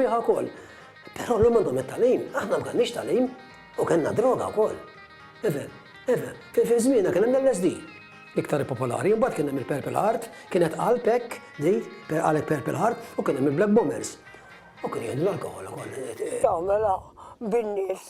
Biha wkoll. Però llum għandhom it-tagħlim, aħna ma kellniex tagħlim u kellna droga wkoll. Ifhem, ifhem. Fi żmienna kien hemm l-LSD, l-iktar popolari, imbagħad kien hemm il-Purple Heart, kienet qalb hekk di, qalek Purple Heart, u kien hemm il-Black Bombers. U kien jieħdu l-alkoħol ukoll. Tagħmilha bin-nies.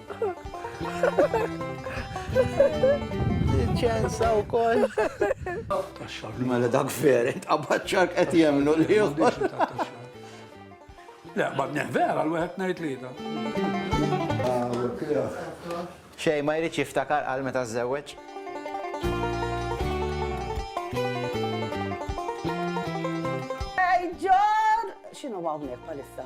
ċensa u koll. Mela dak veri, tqabbaċċar qed jemnu li juħbor. Le, ma vera l-wieħed ngħid li da. Xej, ma jridx jiftakar għal meta żewweġ. Ġor! X'inhu hawnhekk palissa?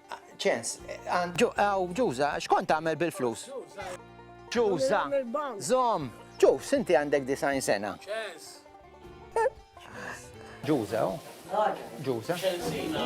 ċens. Aw, Ġuża, x'kont tagħmel bil-flus? Ġuża, żomm. Ġuf, sinti għandek disajn sena. Ċens. Ġuża, Ġuża. Ċensina.